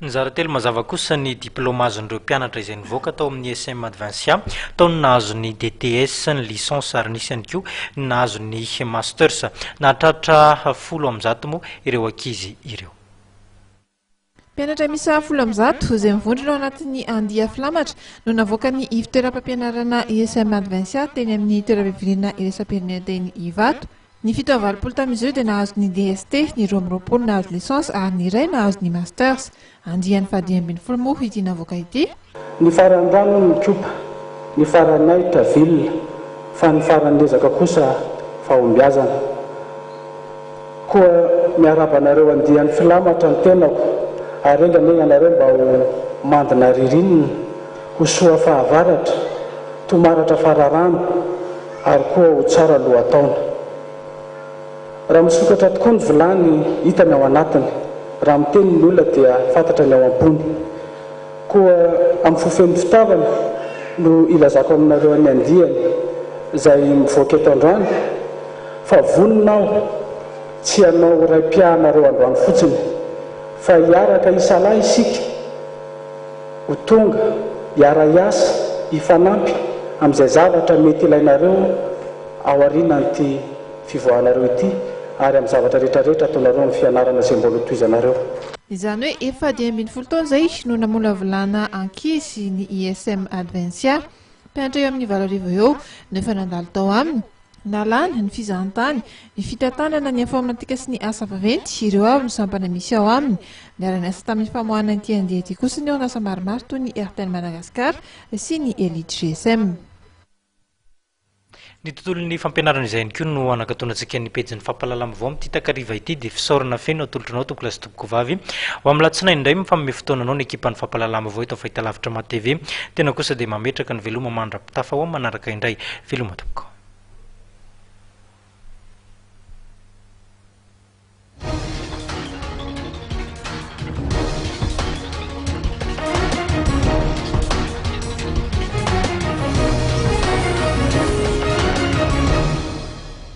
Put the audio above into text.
Nizara telo mazava kosa ny diplaoma azon'ireo mpianatra izay nivoaka tao amin'ny ISM Advincia, tao ny nahazo ny DTS, ny Licence ary nisy ihany koa ny nahazo ny Masters. Nahatratra folo amby zato moa ireo ankizy ireo. Mpianatra miisa folo amby zato, izay mivondrona ao anatin'ny andia filamatra, no navoaka ny ivon-toeram-pampianarana ISM Advincia teny amin'ny toeram-pivoriana iraisam-pirenena teny Ivato. Ny fito amby valopolo tamin'izy ireo dia nahazo ny DST, ny roa amby roapolo nahazo licence ary ny iray nahazo ny masters. Andiany fahadimy ambin'ny folo moa ity navoaka ity. Ny faran'ny rano ny Cuba, ny faran'ny ahitra ville, fa ny faran'ny ezaka kosa fahombiazana. Koa miarahaba anareo andiany filamatra ny tenako ary enga anie ianareo mba ho mandina ririnina, ho soa fahavaratra, tomaratra fararano. Ary koa ho tsara lohataona. Raha misokatra tokoa ny vilany, hita ny ao anatiny. Raha miteny ny olona dia fantatra ny ao am-pony. Koa amin'ny fo feno fitiavana no ilazako aminareo ny andiany izay mivoaka eto androany, fa vonona aho tsy hanao raim-piahanareo androany fotsiny, fa hiaraka hisalahy isika. Ho tonga, hiara-hiasa, hifanampy amin'izay zavatra mety ilainareo ao aorianan'ity fivoahanareo ity ary amin'ny zavatra rehetrarehetra ataonareo amin'ny fianarana izay mbola hotohizanareo. Izany hoe efa dimy ambin'ny folo taona izay no namolavolana ankizy ny ISM Advencia. Mpianatra eo amin'ny valo arivo eo no efa nandalo tao aminy. Nalana, ny fizahantany, ny fitantanana ny informatika sy ny asa vaventy, ireo avy no sampana misy ao aminy. Niara-niasa tamin'ny famoahana ity andiany ity kosa ny orinasa maromaro toy ny Airtel Madagascar sy ny Elite GSM. Ny tontolon'ny fampianarana izay ihany koa no hanakatonantsika ny pejin'ny fampahalalam-baovao amin'ity takariva ity dia fisaorana feno atolotranao Tompokolahy sy Kovavy. Ho amin'ny alatsinainy indray, mifanome fotoana anao ny ekipan'ny Fampahalalam-baovao eto Fahitalavitra Maha TV. Tena kosa dia mametraka ny veloma mandra-pitafa ho amin'ny manaraka indray. Veloma tompoko.